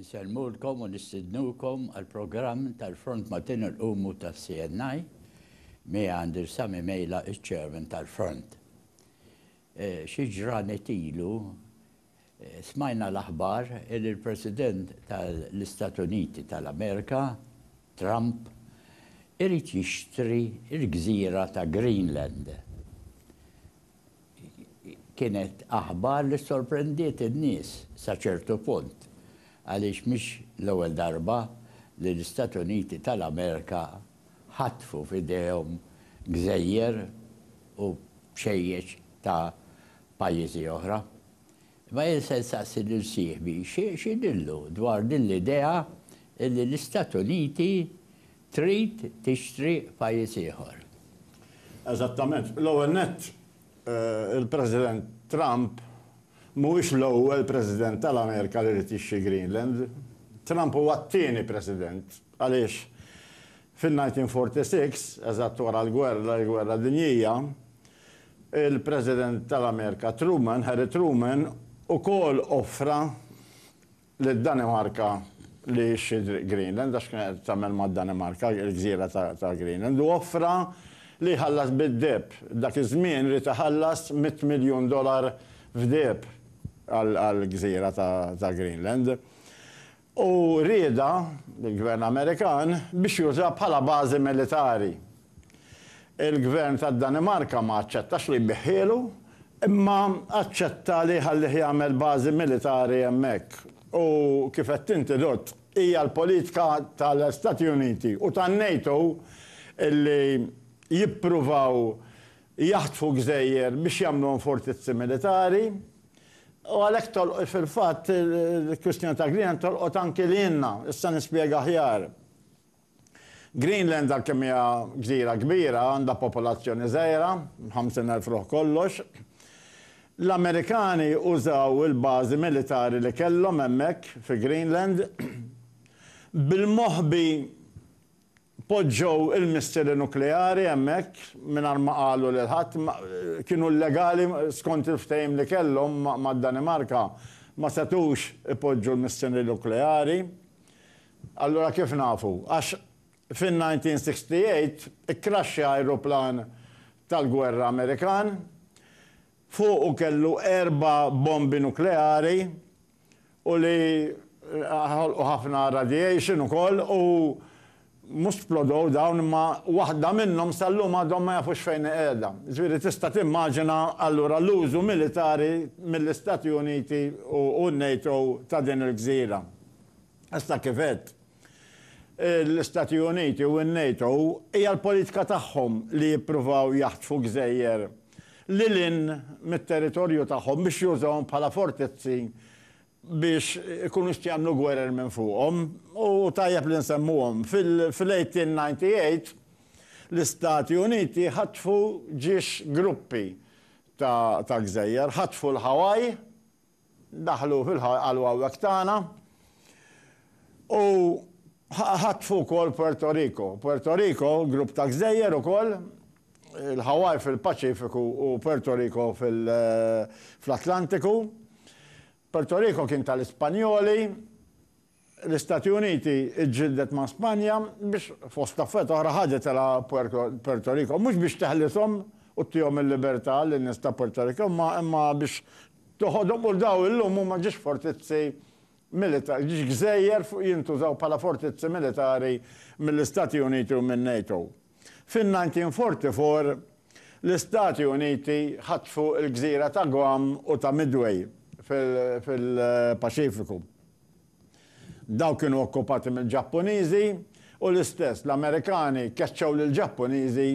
Insellmulkom u nistidnukom għall-programm tal-Front Maltin Qumu tas-CNI, miegħi għandi l-Sami Mejla, iċ-Chairman tal-Front. Xi ġranet ilu smajna l-aħbar li l-President tal-Istat Uniti tal-Amerika, Trump, irid jixtri l-gżira ta' Greenland. Kienet aħbar li ssorprendiet in-nies sa ċertu punt għaliex mhix l-ewwel darba li l-Istati Uniti tal-Amerika ħatfu f'idejhom gżejjer u bxejjeċ ta' pajjiżi oħra. Imma jien se nsaqsi lil sieħbi x'jidhirlu dwar din l-idea li l-Istati Uniti trid tixtri pajjiż ieħor. Eżattament. L-ewwel nett, il-President Trump mhuwiex l-ewwel President tal-Amerika li ried jixtri Greenland. Trump huwa t-tieni President għaliex fin-1946, eżatt wara l-gwerra, il-Gwerra Dinjija, Il-President tal-Amerika Truman, Harry Truman, ukoll offra lid-Danimarka li jixtri Greenland, għax kien qed tagħmel mad-Danimarka l-gżira ta' Greenland, u offra li jħallas bid-deheb. Dak iż-żmien ried iħallas mitt miljun dolar f'deheb għall-gżira ta' Greenland. u rieda mill-Gvern Amerikan biex juża bħala bażi militari. Il-Gvern tad-Danimarka ma aċċettax li jbiegħhielu, imma aċċetta li jħallih jagħmel bażi militari hemmhekk. U kif għedt inti Dott, hija l-politika tal-Stati Uniti u tan-NATO li jippruvaw jaħtfu gżejjer biex jagħmluhom fortizzi militari, U għalhekk tolqot fil-fatt il-kwistjoni ta' Greenland tolqot anki lilna. Issa nispjega aħjar. Greenland għalkemm hija gżira kbira għandha popolazzjoni żgħira, 50,000 ruħ kollox. L-Amerikani użaw il-bażi militari li kellhom hemmhekk fi Greenland bil-moħbi Poġġew il-missili nukleari hemmhekk mingħajr ma qalu lil ħadd. Kienu llegali skont il-ftehim li kellhom mad-Danimarka. Ma setgħux ipoġġu l-missili nukleari. Allura kif nafu? Għax fin-1968 ikkraxxja ajruplan tal-gwerra Amerikan. fuqu kellu erba' bombi nukleari u li ħolqu ħafna radiation ukoll u mhux splodow dawn imma waħda minnhom sal-lum għadhom ma jafux fejn hi qiegħda. Jiġifieri tista' timmaġina allura l-użu militari mill-Istati Uniti u n-NATO ta' din il-gżira. Issa kif għedt, l-Istati Uniti u n-NATO hija l-politika tagħhom li jippruvaw jaħtfu gżejjer lil hinn mit-territorju tagħhom biex jużawhom bħala fortizzi biex ikunu jistgħu jagħmlu gwerer minn fuqhom u tajjeb li nsemmuhom. Fil-1898 l-Istati Uniti ħatfu ġiex gruppi ta' gżejjer, ħatfu l-Hawaii, Daħlu fil-ħalwawek tagħna u ħatfu wkoll Puerto Rico. Puerto Rico, grupp ta' gżejjer ukoll, il-Hawaii fil-Paċifiku u Puerto Rico fl-Atlantiku. Puerto Rico kien tal-Ispanjoli. L-Istati Uniti ġġieldet ma' Spanja biex, fost affarijiet oħra, ħadithilha Puerto Rico. Mhux biex teħlishom u ttihom il-libertà lin-nies ta' Puerto Rico, imma biex toħodhom u dawn illum huma ġiex fortizzi militari, ġiex gżejjer fuq jintużaw bħala fortizzi militari mill-Istati Uniti u min-NATO. Fin-1944, l-Istati Uniti ħatfu l-gżira ta' Guam u ta' Midway fil-Paċifiku. Dawn kienu okkupati mill-Ġappuniżi u l-istess l-Amerikani keċċew lill-Ġappuniżi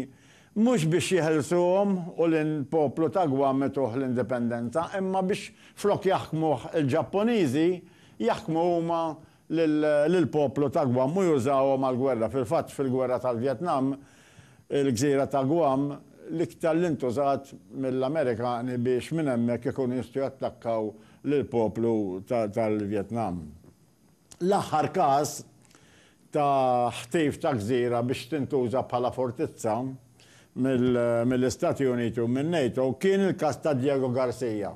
mhux biex jeħilsuhom u lill-poplu ta' Guam ituh l-indipendenza imma biex flok jaħkmuh il-Ġappuniżi jaħkmu huma lill-poplu ta' Guam u jużawhom għall-gwerra. Fil-fatt fil-gwerra tal-Vjetnam il-gżira ta' Guam l-iktar li ntużat mill-Amerikani biex minn hemmhekk ikunu jistgħu jattakkaw lill-poplu tal-Vjetnam. L-aħħar każ ta' ħtif ta' gżira biex tintuża bħala fortizza mill-Istati Uniti u min-NATO kien il-każ ta' Diego Garcia.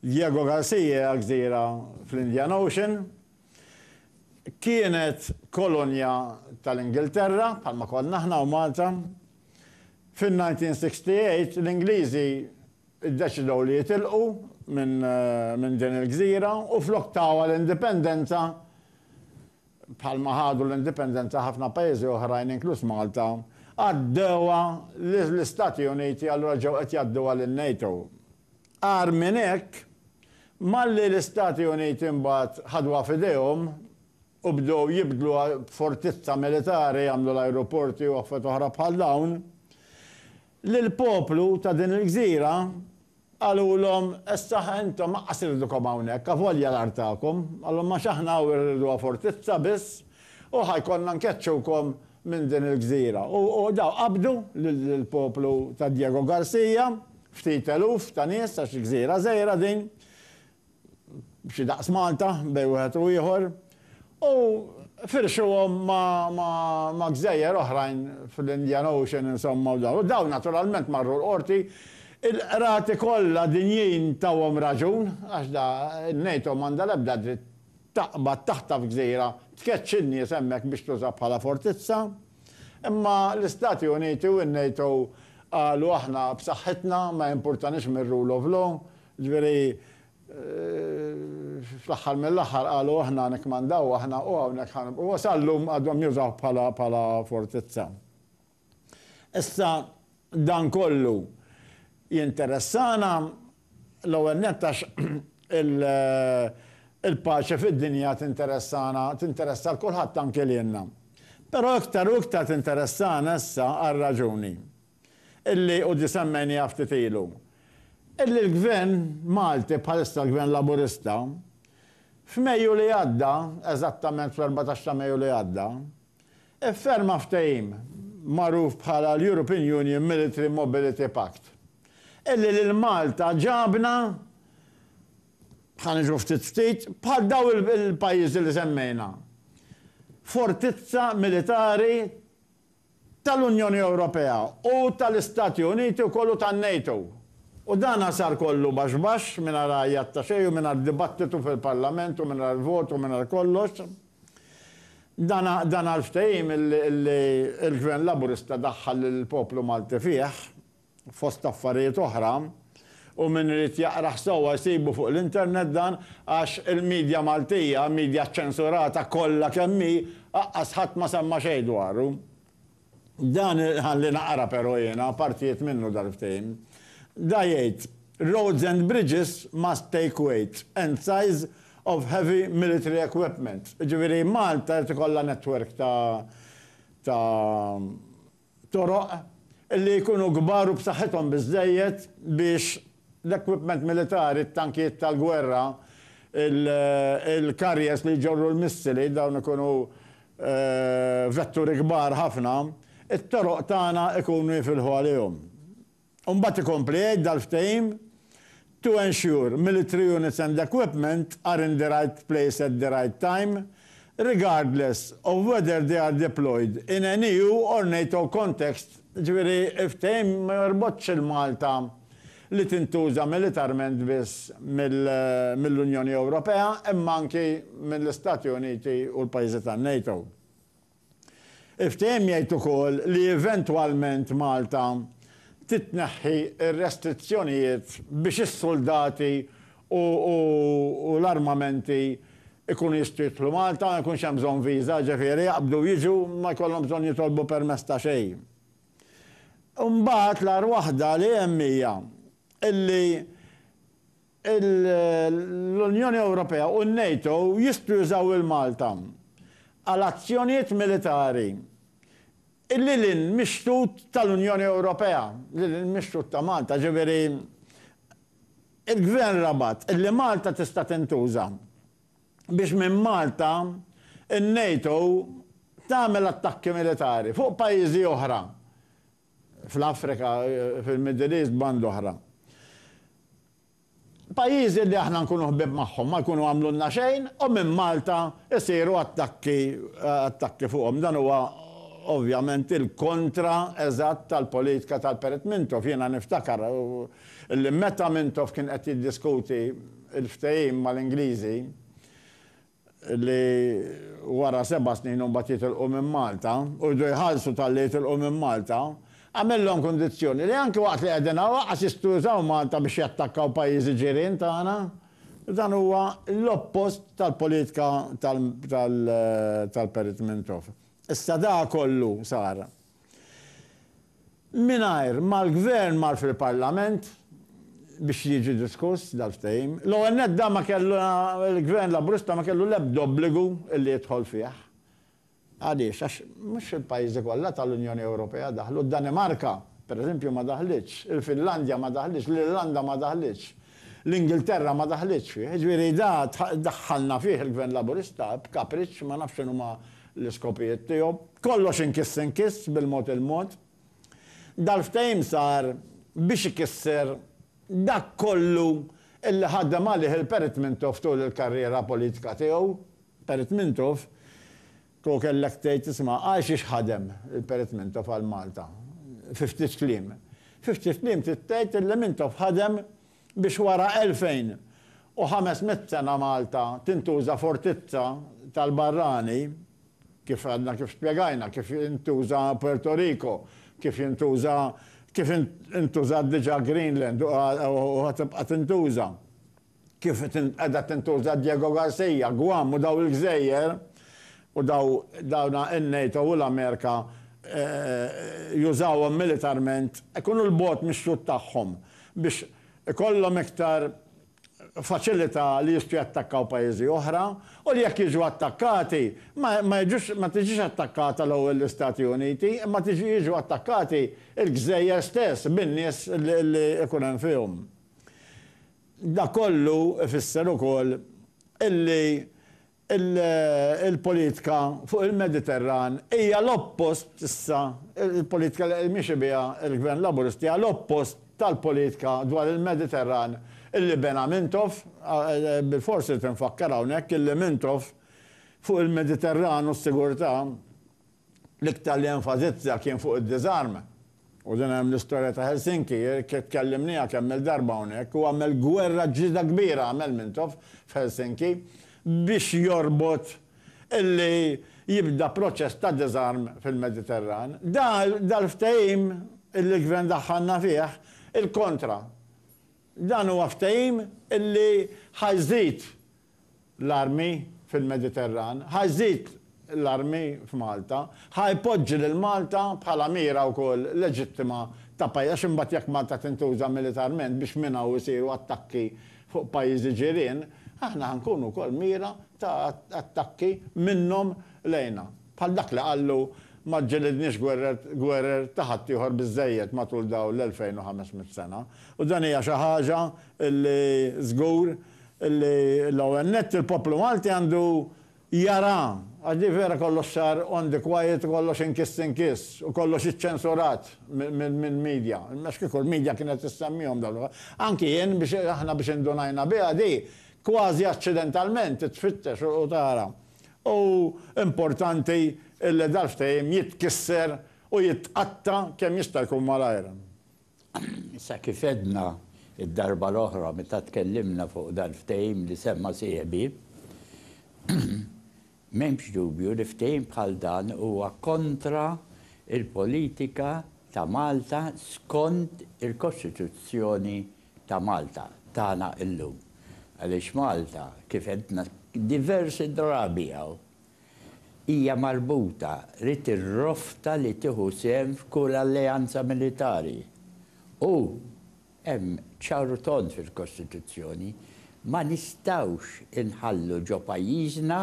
Diego Garcia hija gżira fl-Indian Ocean. Kienet kolonja tal-Ingilterra, bħalma konna aħna u Malta. Fin-1968 l-Ingliżi iddeċidew li jitilqu minn din il-gżira u flok tawha l-indipendenza bħalma ħadu l-indipendenza ħafna pajjiżi oħrajn inkluż Malta għaddewha lill-Istati Uniti allura ġew qed jgħadduha lin-NATO. Agħar minn hekk, malli l-Istati Uniti mbagħad ħaduha f'idejhom u bdew jibdluha b'fortizza militari, għamlu l-ajruporti u affarijiet oħra bħal dawn, Lill-poplu ta' din il-gżira qalulhom, Issaħ intom aqqas irridkom hawnhekk, avolja l-art tagħkom, qalhom, għax aħna hawn irriduha fortizza biss u ħa jkollna nkeċċukom minn din il-gżira. U dawn qabdu lill-poplu ta' Diego Garcia, ftit eluf ta' nies għax gżira żgħira din, b'xi daqs Malta bejn wieħed u ieħor, u firxuhom ma' gżejjer oħrajn fl-Indian Ocean insomma u dawn. U dawn naturalment marru l-Qorti. Il-qrati kollha dinjin tawhom raġun, għax da n-NATO m'għandha l-ebda dritt taqbad taħtaf gżira, tkeċċi n-nies hemmhekk biex tuża bħala fortizza. Imma l-Istati Uniti u n-NATO qalu aħna b'saħħitna, ma jimpurtanix mir-rule of law, Ġifieri, fl-aħħar mill-aħħar qalu aħna nikkmandaw aħna u hawnhekk ħa nibqgħu. U sal-lum għadhom jużawh bħala fortizza. Issa, dan kollu jinteressana l-ewwel nett għax il-paċi fid-dinja tinteressana, tinteressa 'l kulħadd anke lilna. Però iktar u iktar tinteressana issa għal raġuni. illi hu disemmejniha ftit ilu, illi l-Gvern Malti, bħalissa l-Gvern Laburista, f'Mejju li għadda, eżattament fl-erbatax ta' Mejju li għadda, ifferma ftehim magħruf bħala l-European Union Military Mobility Pact, illi lil Malta ġabna, ħa niġu ftit ftit, bħal dawn il-pajjiżi li semmejna, fortizza militari tal-Unjoni Ewropea u tal-Istati Uniti wkoll u tan-NATO. U dan sar kollu baxx baxx, mingħajr għajat ta' xejn u mingħajr dibattitu fil-Parlament u mingħajr vot u mingħajr kollox. Dan dan għall-ftehim li li l-Gvern Laburista daħħal lill-poplu Malti fih. Fost affarijiet oħra, u min irid jaqrah sewwa jsibu fuq l-internet dan għax il-media Maltija, media ċċensurata kollha kemm hi, aqqas ħadd ma semma xejn dwaru. Dan iħalli naqra però jiena partijiet minnu dal-ftehim. Da jgħid, Roads and bridges must take weight and size of heavy military equipment. Jiġifieri Malta irid ikollha network ta' ta' f'toroq li jkunu kbar u b'saħħithom biżżejjed biex l-equipment militari, t-tankijiet tal-gwerra, il-carriers li jġorru l-missili, dawn ikunu vetturi kbar ħafna, it-toroq tagħna jkunu jifilħu għalihom. U mbagħad ikompli jgħid dal-ftehim, To ensure military units and equipment are in the right place at the right time, regardless of whether they are deployed in an EU or NATO context, jiġifieri l-ftehim ma jorbotx il-Malta li tintuża militarment biss mill-Unjoni Ewropea imma anki mill-Istati Uniti u l-pajjiżi tan-NATO. Il-ftehim jgħid ukoll li eventwalment Malta titneħħi r-restrizzjonijiet biex is-suldati u u l-armamenti jkunu jistgħu jidħlu Malta, ma jkunx hemm bżonn viża, ġifieri jaqbdu jiġu ma jkollhom bżonn jitolbu permess ta' xejn. Imbagħad l-agħar waħda li hemm hija illi l-Unjoni Ewropea u n-NATO jistgħu jużaw il-Malta għal azzjonijiet militari lil hinn mix-xtut tal-Unjoni Ewropea, lil hinn mix-xtut ta' Malta, jiġifieri l-Gvern rabat li Malta tista' tintuża biex minn Malta n-NATO tagħmel attakki militari fuq pajjiżi oħra. fl-Afrika, fil-Middle East, banda oħra. Pajjiżi li aħna nkunu ħbieb magħhom ma jkunu għamlulna xejn u minn Malta jsiru attakki attakki fuqhom. Dan huwa ovvjament il-kontra eżatt tal-politika tal-Perit Mintoff. Jiena niftakar li meta Mintoff kien qed jiddiskuti l-ftehim mal-Ingliżi, li wara seba' snin u mbagħad jitilqu minn Malta u jridu jħallsu talli jitilqu minn Malta, għamillhom kundizzjoni li anki waqt li qegħdin hawn lanqas jistgħu jużaw Malta biex jattakkaw pajjiżi ġirien tagħna. Dan huwa l-oppost tal-politika tal-Perit Mintoff. Issa dak kollu sar. Mingħajr ma l-Gvern mar fil-Parlament biex jiġi diskuss dal-ftehim. L-ewwel nett dan ma kellu, il-Gvern Laburista ma kellu l-ebda obbligu li jidħol fih. Għaliex? Għax mhux il-pajjiżi kollha tal-Unjoni Ewropea daħlu. Id-Danimarka, pereżempju, ma daħlitx. Il-Finlandja ma daħlitx. L-Irlanda ma daħlitx. L-Ingilterra ma daħlitx fih. Jiġifieri da daħħalna fih il-Gvern Laburista b'kapriċċ, ma nafx x'inhuma l-iskopijiet tiegħu. Kollox inkiss inkiss bil-mod il-mod. Dal-ftehim sar biex ikisser dak kollu li ħadem għalih il-Perit Mintoff tul il-karriera politika tiegħu. Perit Mintoff, kieku kellek tgħid isma' għal xiex ħadem il-Perit Mintoff għal Malta? Fi ftit kliem. Fi ftit kliem trid tgħid li Mintoff ħadem Biex wara 2,500 sena Malta tintuża fortizza tal-barrani, kif għadna kif spjegajna, kif intuża Puerto Rico, kif jintuża, kif intużat diġà Greenland u ħa tibqa' tintuża, kif qiegħda tintuża Diego Garcia, Guam u dawn il-gżejjer, u daw, dawna in-NATO u l-Amerika jużawhom militarment, ikunu 'l bogħod mix-xhud tagħhom biex ikollhom iktar faċilità li jistgħu jattakkaw pajjiżi oħra u li jekk jiġu attakkati ma, ma jiġux, ma tiġix attakkata l-ewwel l-Istati Uniti imma tiġi, jiġu attakkati l-gżejjer stess bin-nies li jkun hemm fihom. Dak kollu ifisser ukoll illi Il-politika fuq il-Mediterran hija l-oppost issa, il-politika li qed miexi biha l-Gvern Laburista hija l-oppost tal-politika dwar il-Mediterran li bena Mintoff, bilfors irid infakkar hawnhekk illi Mintoff fuq il-Mediterran u s-sigurtà L-iktar li enfasizza kien fuq id-diżarm. U din hemm l-istorja ta' Helsinki, tkellimniha kemm-il darba hawnhekk, hu għamel gwerra ġlieda kbira għamel Mintoff f'Helsinki biex jorbot illi jibda proċess ta' diżarm fil-Mediterran. Dal-ftehim illi l-Gvern daħħalna fih, il-kontra. Dan huwa ftehim illi ħa jżid l-armi fil-Mediterran, ħa jżid l-armi f'Malta, ħa jpoġġi lil Malta bħala mira wkoll leġittima ta' pajjiż għax imbagħad jekk Malta tintuża militarment biex minn hawn isiru attakki fuq pajjiżi ġirien, aħna ħa nkunu wkoll mira ta' attakki minnhom lejna. Bħal dak li qallu ma ġġilidniex gwerer ta' ħaddieħor biżżejjed matul dawn l-2500 sena. U dan hija xi ħaġa li żgur li l-ewwel nett il-poplu Malti għandu jara, għax di vera kollox sar on the quiet u kollox inkiss inkiss u kollox iċċensurat mill-media, għax kieku l-media kienet issemmihom dawn l-affarijiet. Anki jien biex aħna biex indunajna biha di kważi aċċidentalment tfittex u tara. U importanti illi dal-ftehim jitkisser u jitqatta' kemm jista' jkun malajr. Sa kif għedna d-darba l-oħra meta tkellimna fuq dal-ftehim li semma sieħbi, m'hemmx dubju li ftehim bħal dan huwa kontra l-politika ta' Malta skont il-Kostituzzjoni ta' Malta tagħna llum. Għaliex Malta, kif għedna diversi drabi hawn, hija marbuta li tirrofta li tieħu sehem f'kull alleanza militari u, hemm ċar u tond fil-Kostituzzjoni, ma nistgħux inħallu ġo pajjiżna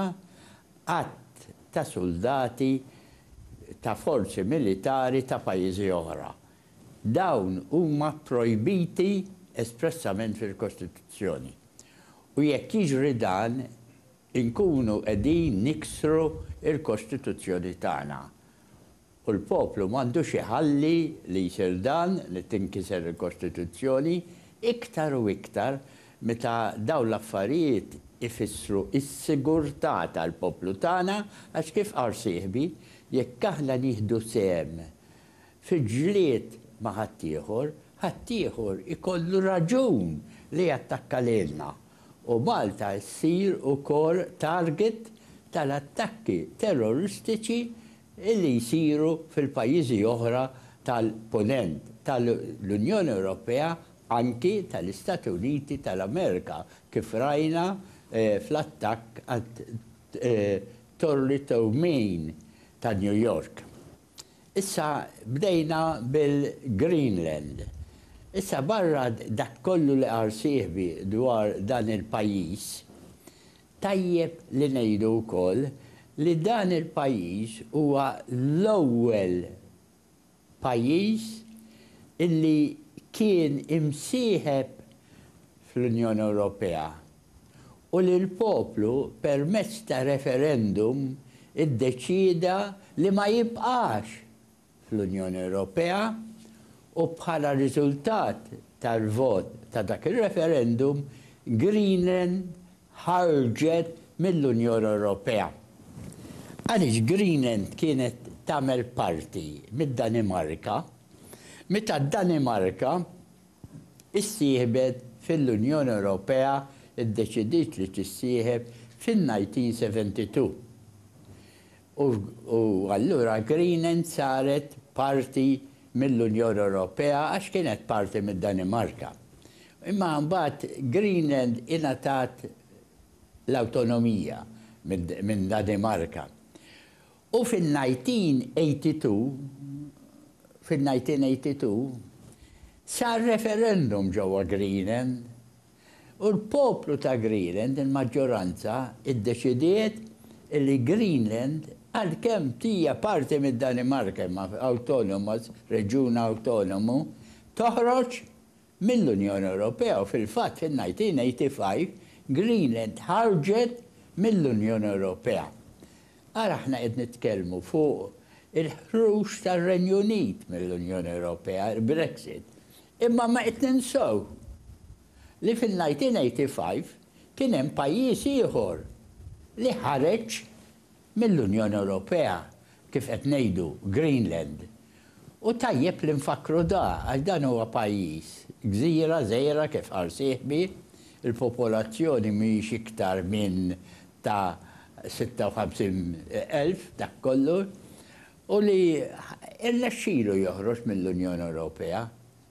għadd ta' suldati ta' forzi militari ta' pajjiżi oħra. Dawn huma pprojbiti espressament fil-Kostituzzjoni u jekk jiġri dan, inkunu qegħdin niksru l-Kostituzzjoni tagħna. U l-poplu m'għandux iħalli li jsir dan, li tinkiser il-Kostituzzjoni, iktar u iktar meta dawn l-affarijiet ifissru s-sigurtà tal-poplu tagħna għax kif qal sieħbi, jekk aħna nieħdu sehem fil-ġlied ma' ħaddieħor, ħaddieħor ikollu raġun li jattakka lilna. u Malta ssir ukoll target tal-attakki terroristiċi li jsiru fil-pajjiżi oħra tal-Punent, tal-Unjoni Ewropea anki tal-Istati Uniti tal-Amerika kif rajna fl-attakk għat-Torri Tow Maine ta' New York. Issa bdejna bil Greenland. Issa barra dak kollu li qal sieħbi dwar dan il pajjiż, tajjeb li ngħidu wkoll li dan il pajjiż huwa l ewwel pajjiż illi kien imsieħeb fl Unjoni Ewropea. u li l-poplu permezz ta' referendum iddeċieda li ma jibqax fl-Unjoni Ewropea u bħala riżultat tal-vot ta' dak ir-referendum Greenland ħarġet mill-Unjoni Ewropea għaliex Greenland kienet tagħmel parti mid-Danimarka meta d-Danimarka issieħbet fil-Unjoni Ewropea ddeċidiet li tissieħeb fin-1972 u allura Greenand saret parti mill-Unjoni Ewropea għax kienet parti mid-Danimarka. Imma mbagħad Greenand ingħatat l-awtonomija minn Danimarka U fin-1982, fin-1982, sar referendum ġewwa Greenend u l-poplu ta' Greenend, il-maġġoranza, iddeċidiet li Greenend, għalkemm hija parti mid-Danimarka imma awtonoma, reġjun awtonomu, toħroġ mill-Unjoni Ewropea u fil-fatt in 1985 Greenland ħarġet mill-Unjoni Ewropea. Ara aħna qed nitkellmu fuq il-ħruġ tar-Renju Unit mill-Unjoni Ewropea, il-Brexit, imma ma qed ninsew li fin-1985 kien hemm pajjiż ieħor li ħareġ mill-Unjoni Ewropea kif qed ngħidu Greenland. U tajjeb li nfakkru da għax dan huwa pajjiż, gżira żgħira kif qal sieħbi, il-popolazzjoni mhijiex iktar minn ta' 56 elf dak kollu, u li rnexxilu joħroġ mill-Unjoni Ewropea.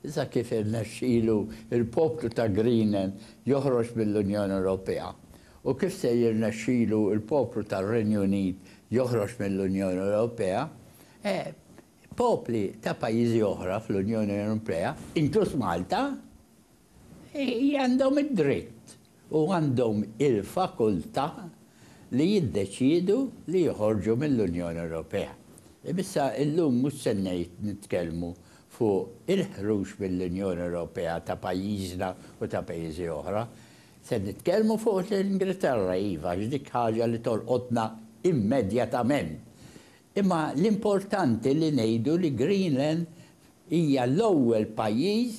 Issa kif irnexxielu l-poplu ta' Greenland joħroġ mill-Unjoni Ewropea? U kif se jirnexxilu l-poplu tar-Renju Unit joħroġ mill-Unjoni Ewropea? Eh, popli ta' pajjiżi oħra fl-Unjoni Ewropea, inkluż Malta, għandhom id-dritt. u għandhom il-fakultà li jiddeċiedu li joħorġu mill-Unjoni Ewropea. Imma issa illum mhux se ngħid nitkellmu fuq il-ħruġ mill-Unjoni Ewropea ta' pajjiżna u ta' pajjiżi oħra. Se nitkellmu fuq l-Ingilterra, iva, għax dik ħaġa li tolqotna immedjatament. Imma l-importanti li ngħidu li Greenland Hija l-ewwel pajjiż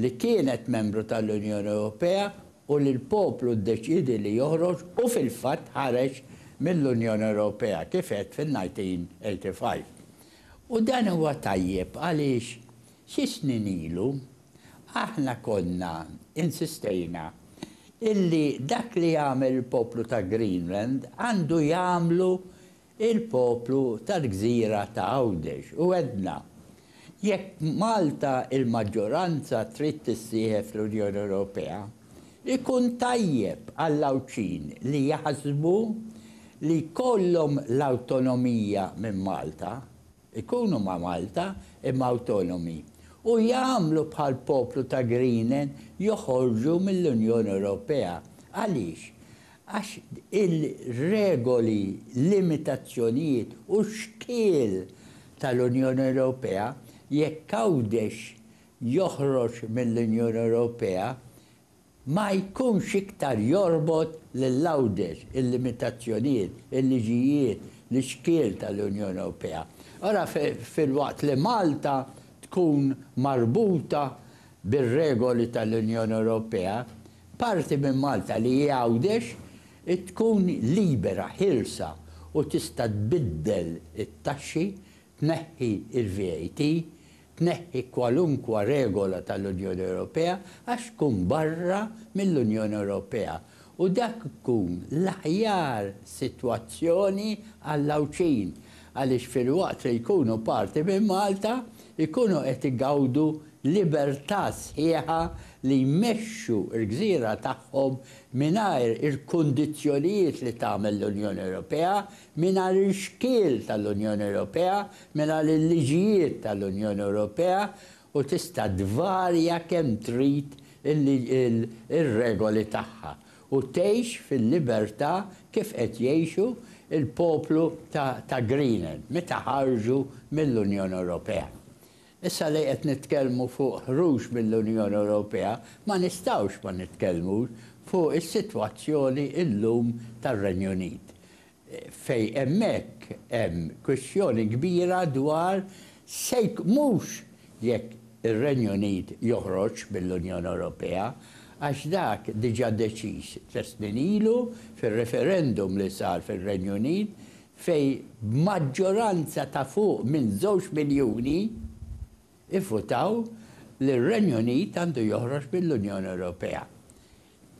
li kienet membru tal-Unjoni Ewropea u li l-poplu ddeċiedi li joħroġ u fil-fatt ħareġ mill-Unjoni Ewropea, kif għedt fin-1985. U dan huwa tajjeb għaliex xi snin ilu aħna konna insistejna illi dak li jagħmel il-poplu ta' Greenland għandu jagħmlu il-poplu tal-gżira ta' Għawdex u għedna, jekk Malta il-maġġoranza trid tissieħeb fl-Unjoni Ewropea, ikun tajjeb għall-Għawdxin li jaħsbu li jkollhom l-awtonomija minn Malta, ikunu ma' Malta imma awtonomi, u jagħmlu bħall-poplu ta' Greenan joħorġu mill-Unjoni Ewropea. Għaliex? għax il-regoli, limitazzjonijiet u xkiel tal-Unjoni Ewropea, jekk Għawdex joħroġ mill-Unjoni Ewropea, ma jkunx iktar jorbot lil Għawdex, il-limitazzjonijiet, il-liġijiet, l-ixkiel tal-Unjoni Ewropea. Ara filwaqt li Malta tkun marbuta bir-regoli tal-Unjoni Ewropea, Parti minn Malta li hi Għawdex tkun libera, ħielsa u tista' tbiddel it-taxxi, tneħħi l-VAT, tneħħi kwalunkwa regola tal-Unjoni Ewropea għax tkun barra mill-Unjoni Ewropea u dak tkun l-aħjar sitwazzjoni għall-Għawdxin għaliex filwaqt li jkunu parti minn Malta jkunu qed igawdu libertà sħiħa li jmexxu l-gżira tagħhom mingħajr il-kundizzjonijiet li tagħmel l-Unjoni Ewropea, mingħajr il-xkiel tal-Unjoni Ewropea, mingħajr il-liġijiet tal-Unjoni Ewropea u tista' tvarja kemm trid ir-regoli tagħha u tgħix fil-libertà kif qed jgħixu l-poplu ta' Greenland meta ħarġu mill-Unjoni Ewropea. Issa li qed nitkellmu fuq ħruġ mill-Unjoni Ewropea, ma nistgħux ma nitkellmux fuq is-sitwazzjoni llum tar-Renju Unit, fejn hemmhekk hemm kwistjoni kbira dwar se mhux jekk ir-Renju Unit joħroġx mill-Unjoni Ewropea, għax dak diġà deċiż tliet snin ilu fir-referendum li sar fir-Renju Unit fejn b'maġġoranza ta' fuq minn żewġ miljuni vvutaw li r-Renju Unit għandu joħroġ mill-Unjoni Ewropea.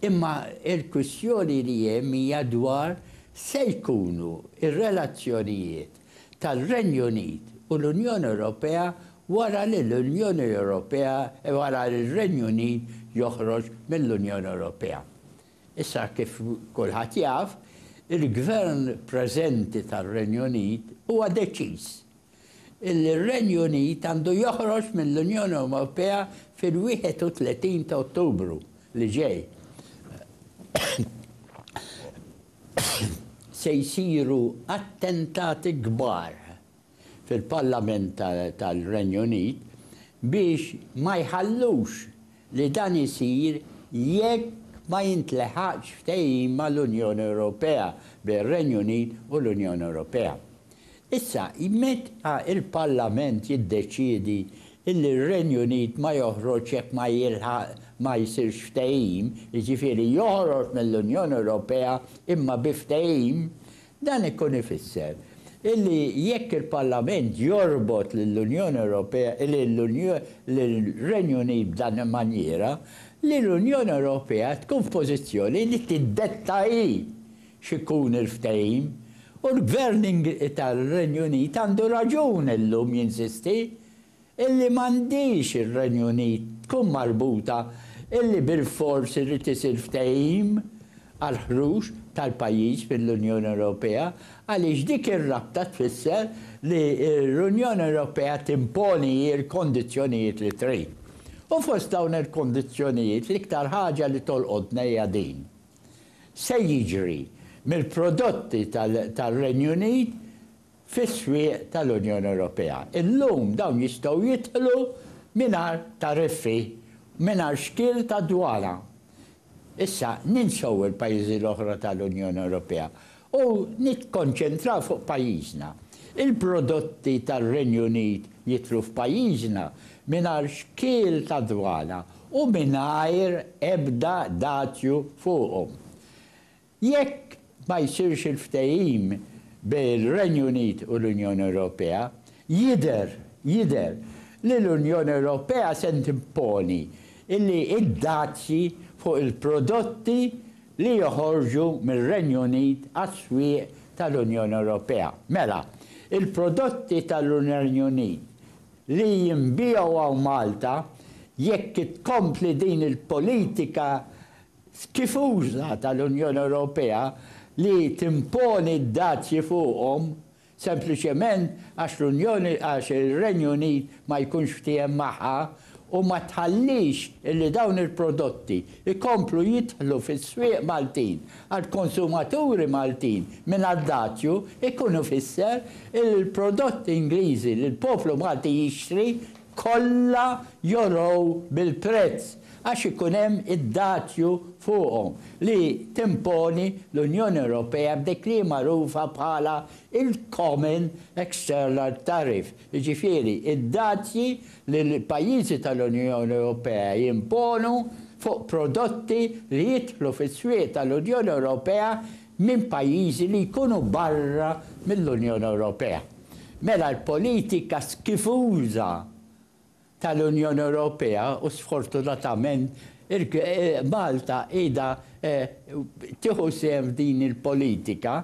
Imma l-kwistjoni li hemm hija dwar se jkunu r-relazzjonijiet tar-Renju Unit u l-Unjoni Ewropea wara li l-Unjoni Ewropea, wara li r-Renju Unit joħroġ mill-Unjoni Ewropea. Issa kif kulħadd jaf, il-Gvern preżenti tar-Renju Unit huwa deċiż illi r-Renju Unit għandu joħroġ mill-Unjoni Ewropea fil-31 ta' Ottubru li ġej. Se jsiru attentati kbar. fil-Parlament tal-Renju Unit biex ma jħallux li dan isir jekk ma jintleħaqx ftehim mal-Unjoni Ewropea, bejn ir-Renju Unit u l-Unjoni Ewropea. Issa, meta l-Parlament jiddeċiedi li r-Renju Unit ma joħroġx jekk ma jilħaq ma jsirx ftehim, jiġifieri joħroġ mill-Unjoni Ewropea imma bi ftehim, Dan ikun ifisser illi jekk il-Parlament jorbot lill-Unjoni Ewropea, lir-Renju Unit b'dan il-manjiera, li l-Unjoni Ewropea tkun f'pożizzjoni li tiddetta hi x'ikun il-ftehim u l-Gvern tar-Renju Unit għandu raġun illum jinsisti illi m'għandhiex ir-Renju Unit tkun marbuta illi bilfors irid isir ftehim għall-ħruġ tal-pajjiż mill-Unjoni Ewropea għaliex dik ir-rabta tfisser li l-Unjoni Ewropea timponi hi l-kondizzjonijiet li trid. U fost dawn il-kondizzjonijiet l-iktar ħaġa li tolqotna hija din, se jiġri mill-prodotti tar-Renju Unit fis-swieq tal-Unjoni Ewropea. Illum dawn jistgħu jidħlu mingħajr tariffi, mingħajr xkiel ta' dwana. Issa ninsew il-pajjiżi l-oħra tal-Unjoni Ewropea u nikkonċentraw fuq pajjiżna. Il-prodotti tar-Renju Unit jidħlu f'pajjiżna mingħajr xkiel ta' dwana u mingħajr ebda dazju fuqhom. Jekk ma jsirx il-ftehim bejn ir-Renju Unit u l-Unjoni Ewropea, jidher, jidher, li l-Unjoni Ewropea se timponi li d-dazji fuq il-prodotti li joħorġu mir-Renju Unit għas-swieq tal-Unjoni Ewropea. Mela, il-prodotti tal-Renju Unit li jinbiegħu hawn Malta, jekk tkompli din il-politika f'tifuża tal-Unjoni Ewropea li timponi d-dazji fuqhom sempliċement għax l-Unjoni għax ir-Renju Unit ma jkunx ftiehem magħha u ma tħallix illi dawn il-prodotti jkomplu jidħlu fis-swieq Maltin għall-konsumaturi Maltin mingħajr dazju jkun ifisser illi l-prodotti Ingliżi li l-poplu Malti jixtri kollha jorow bil-prezz għax ikun hemm id-dazju fuqhom li timponi l-Unjoni Ewropea b'dik li hi magħrufa bħala l-common external tariff, jiġifieri d-dazji li l-pajjiżi tal-Unjoni Ewropea jimponu fuq prodotti li jidħlu fis-swieq tal-Unjoni Ewropea minn pajjiżi li jkunu barra mill-Unjoni Ewropea. Mela l-politika skifuża tal-Unjoni Ewropea, u sfortunatament Malta qiegħda tieħu sehem f'din il-politika,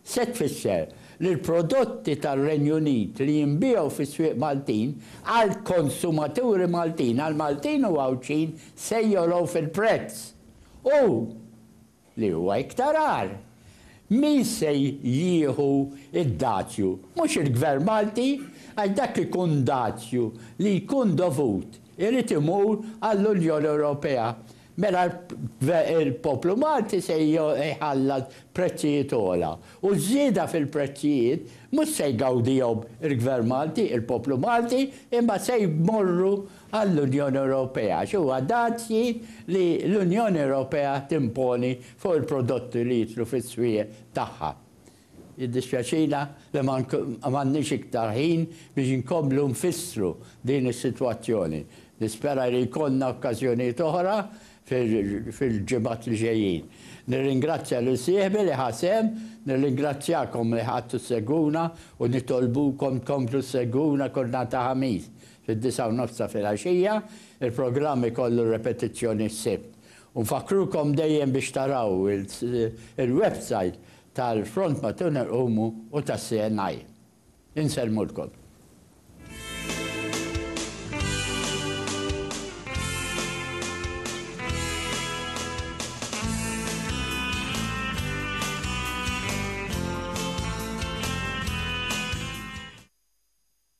se tfisser li l-prodotti tar-Renju Unit li jinbiegħu fis-swieq Maltin għall-konsumaturi Maltin, għall-Maltin u Għawdxin se jogħlew fil-prezz u, li huwa iktar agħar, min se jieħu d-dazju? Mhux il-Gvern Malti, għax dak ikun dazju li jkun dovut, irid imur għall-Unjoni Ewropea. Mela l-poplu Malti se jħallas prezzijiet ogħla. U ż-żieda fil-prezzijiet mhux se jgawdihom il-Gvern Malti, il-poplu Malti, imma se jmorru għall-Unjoni Ewropea għax huwa dazji li l-Unjoni Ewropea timponi fuq il-prodotti li jidħlu fis-swieq tagħha. Jiddispjaċina li ma għandniex iktar ħin biex inkomplu nfissru din is-sitwazzjoni. Nispera li jkollna okkażjonijiet oħra fil-ġimgħat li ġejjin. Nirringrazzja lil sieħbi li ħa sehem, nirringrazzjakom li qgħadtu ssegwuna u nitolbukom tkomplu ssegwuna kull nhar ta' Ħamis. Fid-disgħa u nofs ta' filgħaxija, il-programm ikollu repetizzjoni s-Sibt. U nfakkrukom dejjem biex taraw il-websajt tal-Front ma' Tun Irqumu u tas-CNI. Insellmulkom.